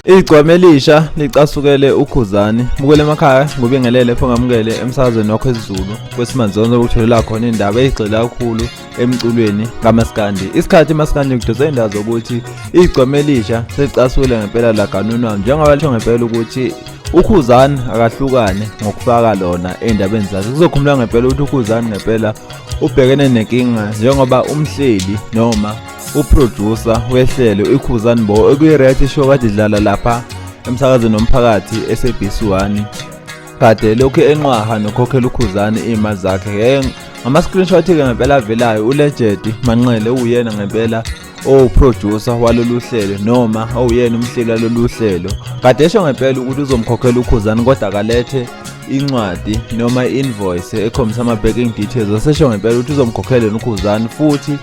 Igcwame elisha licasukele uKhuzani. Mukele emakhaya ngobingelele fongamukele emsakazweni wakho esiZulu. Kwesimanzonzo ukutholela khona indaba ezigxila kakhulu emculweni kamaskandi isikhathi maskandi kudose indawo zokuthi igcome elisha selicasule ngempela laganunwa njengoba lisho ngempela ukuthi ukhuzani akahlukane ngokufaka lona endabeni zakhe kuzokhumula ngempela ukuthi ukhuzani ngempela ubhekene nenkinga njengoba umhleli noma uproducer wehlelo ikhuzani bo ekuyiraythi show kade idlala lapha emsakazweni womphakathi eSABC 1 kade lokhu enqwaha nokhokhela ukhuzane iy'mali zakhe ngeke ngama-screenshot-ke ngempela avelayo ulegedi manqele uwuyena ngempela owuproducer walolu hlelo noma owuyena umhleli walolu hlelo kade esho ngempela ukuthi uzomkhokhela ukhuzane kodwa kalethe incwadi noma i-invoice ekhombisa ama-banking details wasesho ngempela ukuthi uzomkhokhela yena ukhuzane futhi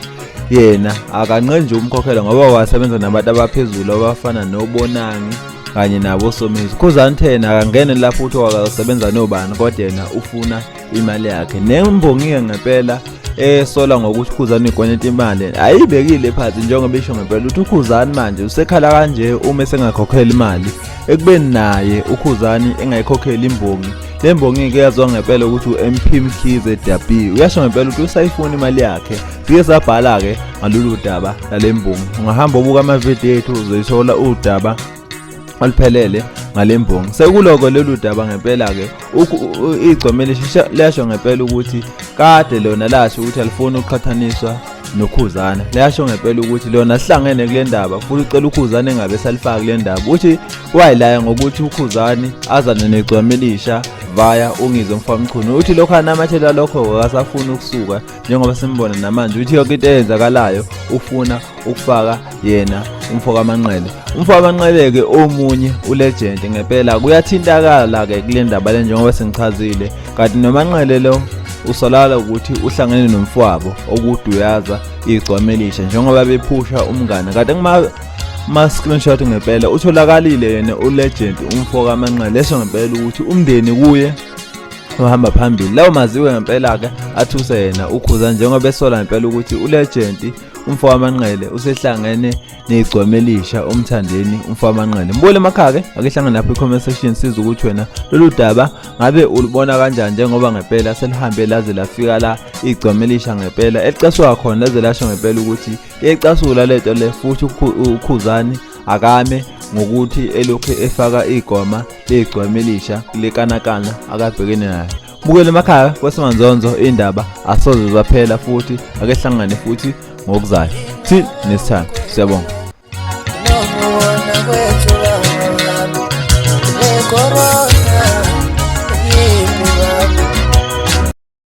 yena akanqe nje umkhokhela ngoba wasebenza nabantu abaphezulu abafana nobonangi kanye nabo somizi khuzani thena akangene lapho uthi wakasebenza nobani kodwa yena ufuna imali yakhe nembongike ngempela esola ngokuthi ukhuzani ikweleta imali ayibekile phansi njengoba isho ngempela ukuthi ukhuzani manje usekhala kanje uma esengakhokhela imali ekubeni naye ukhuzani engayikhokheli imbongi le mbongi-ke yazwa ngempela ukuthi u-mp mkhize dabi uyasho ngempela ukuthi usayifuna imali yakhe Siye sabhala-ke ngalolu daba lale mbongi ungahamba ubuka amavidiyo ethu uzoyithola udaba oluphelele ngale mbongi sekuloko lolu daba ngempela-ke igcome liyasho ngempela ukuthi kade lona lasho ukuthi alifuni ukuqhathaniswa nokhuzana liyasho ngempela ukuthi lona sihlangene kule ndaba futhi ucela ukhuzane engabe salifaka kule ndaba uthi wayilaya ngokuthi ukhuzane azane negcome elisha vaya ungizwe mfamchunu uthi lokho anamathela lokho akasafuni ukusuka njengoba simbona namanje ukuthi yonke into eyenzakalayo ufuna ukufaka yena umfoka amanqele umfoka amanqele-ke omunye ulegend ngempela kuyathintakala-ke kule ndaba le njengoba sengichazile kanti nomanqele lo usolala ukuthi uhlangene nomfwabo okuduyaza igcwama elisha njengoba bephusha umngane kanti ma-screenshot ngempela utholakalile yena ulegend umfoka amanqele leso ngempela ukuthi umndeni kuye ohamba phambili lawo maziwe ngempela-ke athuse yena ukhuza njengoba esola ngempela ukuthi ulegenti umfo wamanqele usehlangene negcwama elisha umthandeni umfo wamanqele mbule emakhake akehlangene lapho i-comment section siza ukuthi wena lolu daba ngabe ulubona kanjani njengoba ngempela selihambe laze lafika la igcwama elisha ngempela elicaswa khona laze lasho ngempela ukuthi iyecasula lento le futhi ukhuzani akame ngokuthi elokhu efaka igoma legcwama elisha lekanakana akabhekene nayo bukele emakhaya kwesinganzonzo indaba asoze zaphela futhi akehlangane futhi ngokuzayo till next time siyabonga Corona